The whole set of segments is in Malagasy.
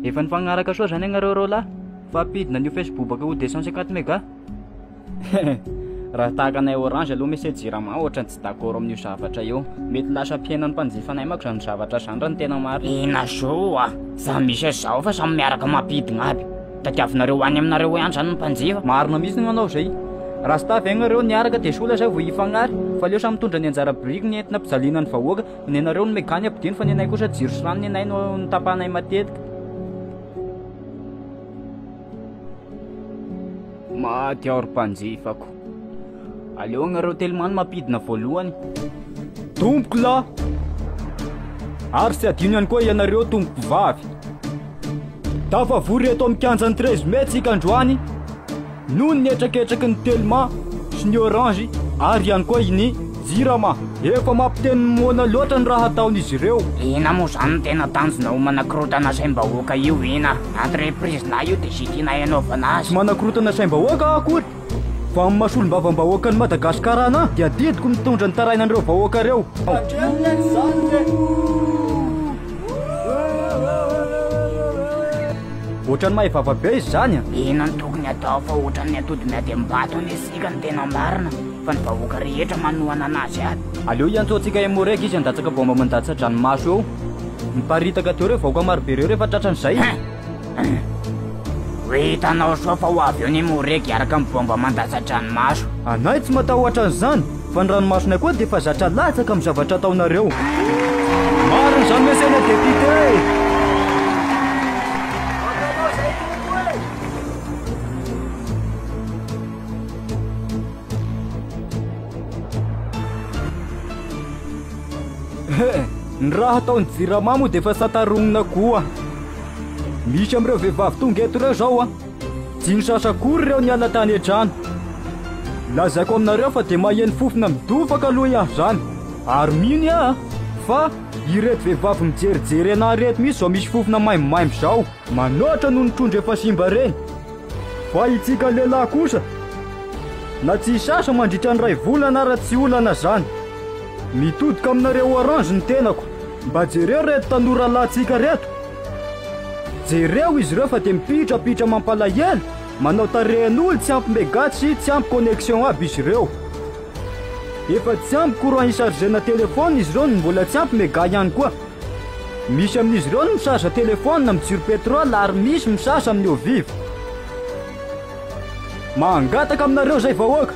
Efa nifagnaraka soa zany ianareo roa lahy fa ampidina an'io facebobaka ho deux cent cinquante mega raha tahaka anay orange aloha mese jirama ohatra ny tsy d'accord amin'io zavatra io mety lasa ampihenan'ny mpanjifa anay mako zany zavatra zany raha ny tena marina zao a za misy zao fa samy miaraka mampidina aby Tadiavinareo any aminareo any zany ny mpanjifa. Marina mihitsy ny manao izay. Raha staff ve nareo niaraka dia soa lasa vao hifagnary. Fa aleo samy mitondra ny anjara biriky ny entina pijaliana ny vahoaka. Nenareo ny mega ny ampidino fa nenay kosa jiro sy rano nenay no notapahanay matetika. Maty aho ry mpanjifako. Aleo agnareo telo mano mampidina voalohany. Tompoko lahy! Ary tsy adino ihany koa ianareo tompoko vavy. Tafavory eto amin'ny kianjan'ny treize mai tsika androany noho ny hetraketraky ny telma sy ny orange ary ihany koa i ny jirama. Efa mampiteny ny moana loatra ny raha ataon'izy ireo. Ina moa zany no tena tanjona ho manakorotana saim-bahoaka io ina? Entreprise lahy io dia ze tianay anaovana azy. Tsy manakorotana saim-bahoaka aho akory Vao amin'ny maha solombavambahoakan'i Madagasikara anà dia adidiko mitondra ny tarainan'ireo vahoaka ireo. Ohatran'ny mahay vava be izy zany a. Inona no tokony atao fa ohatran'ny atody miady amin'ny bato anie isika no tena marina fa ny vahoaka rehetra manohana anazy aby. Aleo hiantsoantsika Emoreg izy handatsaka baomba mandatsa-dranomaso eo. Miparitaka teo ireo vahoaka marobe ireo rehefa tratran'izay. Ho hitanao soa fa ho avy eo ny moregy hiaraka amin'ny baomba mandatsa-dranomaso. Anay tsy matahotra an'izany, fa ny ranomasonay koa dia efa zatra latsaka amin'ny zavatra ataonareo. Marina izany ve saina depiote e! Ny raha ataon'ny Jirama moa dia efa sata ronona koa. Misy amin'ireo vehivavy tonga eto ireo izao an! Tsy nisasa akory ireo niala tany an-trano. Lazaiko aminareo fa dia maheno fofona midofaka aloha i An izany. Ary mino aho fa ireto vehivavy mijerijery anà ireto mihitsy izao misy fofona maimbomaimbo izao. Manoatra noho ny trondro efa simba ireny. Fa isika lehilahy kosa na tsy hisasa mandritra ny iray volana ara tsy olana izany. Mitodoka aminareo orange ny tenako. Mba jereo reto tanora lahintsika reto. Jereo izy ireo fa dia mipitrapitra mampalahelo, manao tarehin'olo, tsy ampy mega sy tsy ampy connexion aby izy ireo. Efa tsy ampy courant hi-chargena telephone izy ireo no mbola tsy ampy mega ihany koa. Misy amin'izy ireo no mi-charge telephone amin'ny jiro petrol ary misy mi-charge amin'ny eau vive. Mangataka aminareo izay vahoaka.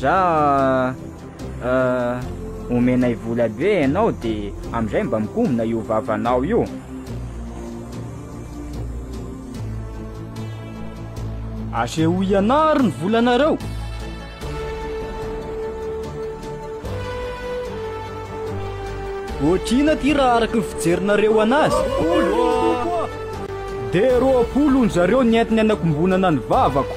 Za ah, omenay vola be ianao de amizay mba mikombona io vavanao io. Asehoy ianaro ny volanareo. Otrina ty raha araka ny fijerinareo anazy. De roapolo onjareo ny entiny anakombonana ny vavako.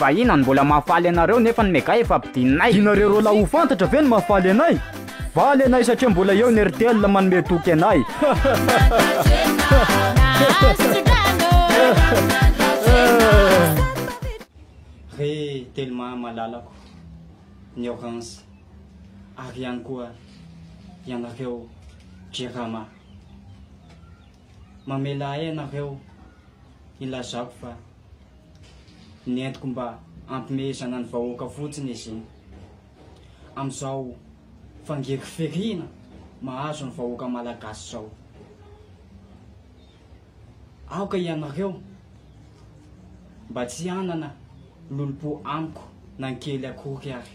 Vahiny an mbola mahafaly anareo nefa ny mega efa ampidininay. Dinareo roa lahy ho fantatra ve ny mahafaly anay? Valy anay satria mbola eo ny Airtel manome toky anay. Re Telma malalako ny orange ary ihany koa ianareo jirama. mamela ahy ianareo hilazako fa ny entiko mba hampimehezana ny vahoaka fotsiny izy iny. Amin'izao fangiriferina mahazo ny vahoaka malagasy izao. Aoka ianareo mba tsy hanana lolompo amiko na ny kely akory ary.